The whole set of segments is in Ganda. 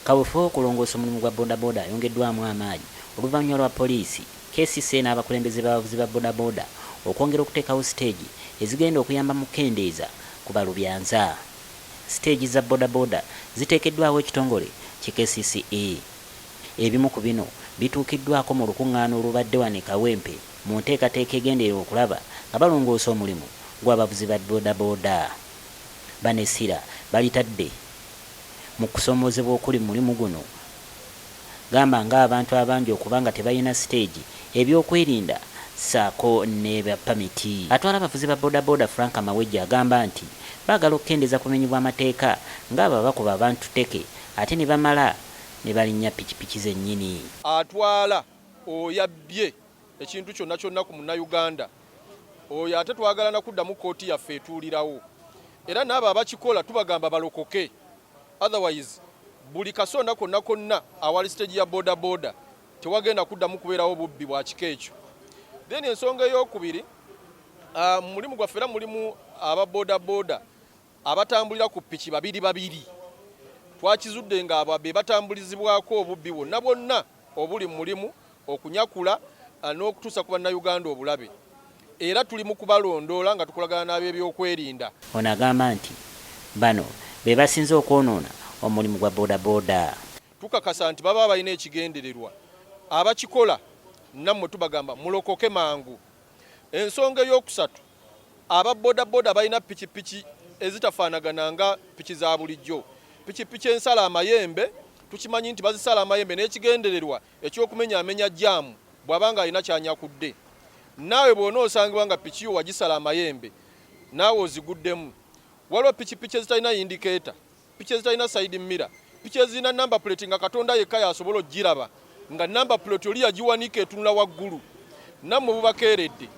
kawefube w'okulongoosa omulimu gwa bodaboda ayongeddwamu amaanyi oluvannyuma lwa poliisi kcca n'abakulembeze b'abavuzi ba bodaboda okwongera okuteekawo siteegi ezigenda okuyamba mu kukendeeza ku balubyanza siteegi za bodaboda ziteekeddwawo ekitongole ki kcca ebimu ku bino bituukiddwako mu lukuŋŋaana olubadde wano e kawempe mu nteekateeka egenderera okulaba nga balongoosa omulimu gw'abavuzi ba bodaboda. Bano essira balitadde mu kusoomoozebwa okuli mu mulimu guno gamba ng'abantu abangi okuba nga tebalina siteegi, ebyokwerinda ssaako ne pamiti. Atwala abavuzi ba bodaboda Frank Mawejje agamba nti baagala okukendeeza ku bumenyi bw'amateeka ng'abo abakuba abantu tteke ate ne bamala ne balinnya pikipiki zennyini. Atwala oyabbye ekintu kyonna kyonna ku munnayuganda oyo ate twagala na kuddamu kkooti yaffe etuulirawo era n'abo abakikola tubagamba balokoke otherwise buli kasonda konna konna awali siteegi ya bodaboda tewagenda kuddamu kubeerawo bubbi bwa kika ekyo then ensonga ey'okubiri ah, mu mulimu gwaffe era mulimu aba bodaboda abatambulira ku piki babiri babiri twakizudde ng'abo be batambulizibwako obubbi bwonna bwonna obuli mu mulimu okunyakula eh, n'okutuusa ku Bannayuganda obulabe era tuli mu kubalondoola nga tukolagana n'ab'ebyokwerinda. Ono agamba nti bano be basinze okwonoona omulimu gwa bodaboda. Tukakasa nti baba balina ekigendererwa, abakikola nammwe tubagamba mulokoke mangu. Ensonga ey'okusatu aba bodaboda balina pikipiki ezitafaanagana nga piki za bulijjo. Pikipiki ensala amayembe tukimanyi nti bazisala amayembe n'ekigendererwa ekyokumenya amenya jaamu bw'aba nga alina kyanyakudde. Naawe bw'onoosangibwa nga piki yo wagisala amayembe naawe oziguddemu. Waliwo pikipiki ezitalina yindikeeta piki ezitalina side mirror, piki ezirina number plate nga Katonda yekka yasobola ogiraba nga number plate oli yagiwanika etunula waggulu. Nammwe bubakeeredde,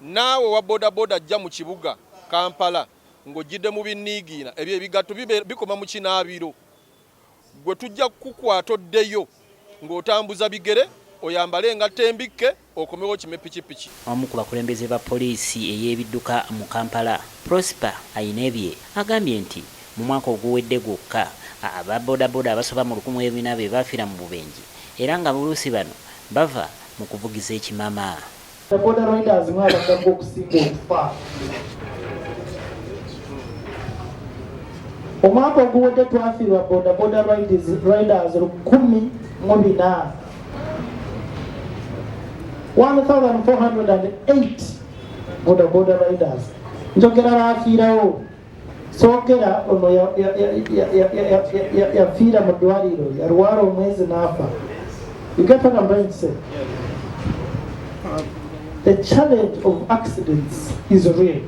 naawe wa bodaboda ajja mu kibuga Kampala ng'ojjidde mu binniigiina, ebyo ebigatto bikoma mu kinaabiro, gwe tujja kukukwata oddeyo ng'otambuza bigere oyambale engatto embikke. okomewo okime pikipiki. Omu ku bakulembeze ba poliisi ey'ebidduka mu Kampala, Prosper Ainebye agambye nti mu mwaka oguwedde gwokka, aba bodaboda abasoba mu lukumi e bina be baafira mu bubenje era nga buluusi bano bava mu kuvugiza ekimama. Boda boda riders mwabagako okusinga okufa. Omwaka oguwedde twafiirwa boda boda riders lukumi mu bina. 1408 bodaboda riders njogera bafiirawo sogera ono yafiira mu ddwaliro yalwala omwezi n'afa ugetanambainse the challenge of accidents is real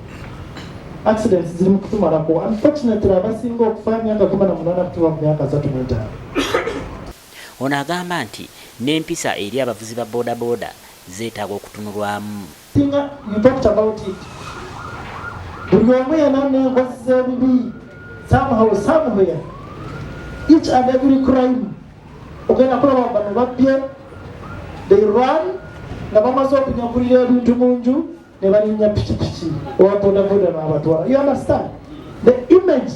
accidents ziri mu kutumalako unfortunately abasinga okufa myaka kumi na munana kutuba mu myaka zatu mwetaano Ono agamba nti n'empisa eri abavuzi ba boda boda zetaaga okutunulwamu. Singa you talked about it buli omu yena nenkozi zebibi somehow somewhere each and every crime ogenda kulaba bano babbye they run nga bamaze okunyakulira ebintu munju ne banyumya pikipiki owa bodaboda n'abatwala you understand the image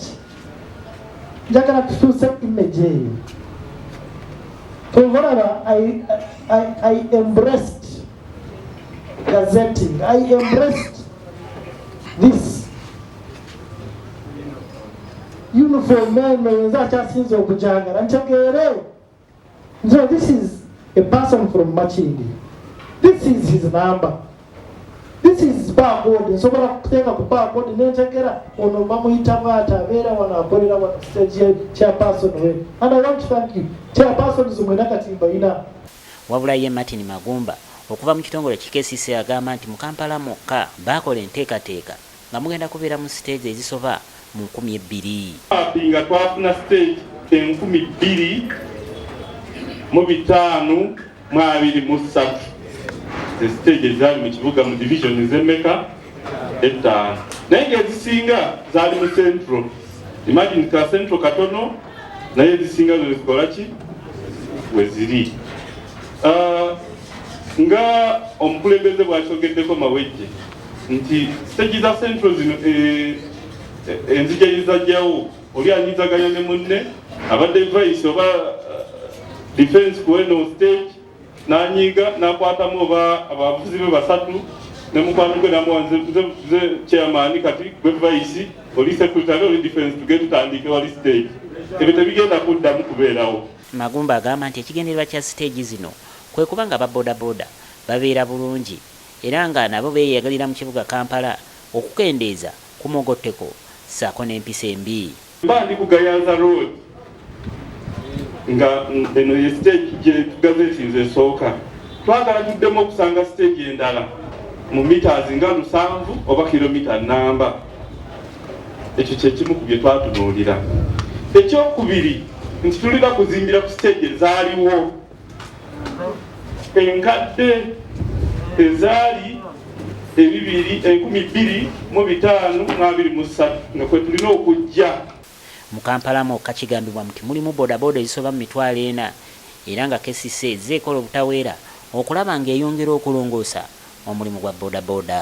njagala tukyuse image eyo kwevalaba i embraced gazetting i embraced this uniform eno yenza akyasinza okujangala ntegeere So this is a person from Makindi. This is his number. This is barcode. Nsobola kuteeka ku barcode nentegera ono bamuyita bwati abeera wano akolera wano stage chairperson we. And I want to thank you. Chairperson zimwena kati mbayina. Wabula ye Martin Magumba okuva mu kitongole ki KCC agamba nti mu Kampala mwokka baakola enteekateeka Nga mugenda kubeera mu siteegi ezisoba mu nkumi ebbiri. Bambi nga twafuna siteegi enkumi bbiri mu bitaanu mu abiri mu ssatu. Ze siteegi ezaali mu kibuga mu divizoni z'emmeka? Ettaano. Naye nga ezisinga zaali mu central. Imagine ka central katono naye ezisinga zo zikola ki? We ziri. Ah, nga omukulembeze bw'akyogeddeko Mawejje. nti siteegi za central zino eh, eh, enzija yezajjawo oli anyizaganya ne munne abadde vice oba eh, defense ku eno stage nanyiiga nakwatamu oba abavuzi be basatu ne mukwano gwe namuwa nze chairman kati gwe vice oli secretary oli defense tuge tutandike wali stage ebyo tebigenda kuddamu kubeerawo magumba agamba nti ekigendererwa kya siteegi zino kwe kuba nga aba bodaboda babeera bulungi era nga nabo beeyagalira mu kibuga Kampala okukendeeza ku mugotteko ssaako n'empisa embi. Mba ndi ku Gayaza Road nga eno ye siteegi gye gazeetinze esooka. Twagala tuddemu okusanga siteegi endala mu mitaazi nga lusanvu oba kiromita nnamba. Ekyo kye kimu ku bye twatunuulira. Ekyokubiri nti tulina kuzimbira ku siteegi ezaaliwo. enkadde ezaali ebibiri enkumi bbiri mu bitaano mu abiri mu ssatu nga kwe tulina okujja mu kampala mwokka kigambibwa nti mulimu bodaboda ezisoba mu mitwalo ena era nga kcc ezze ekola obutaweera okulaba ng'eyongera okulongoosa omulimu gwa bodaboda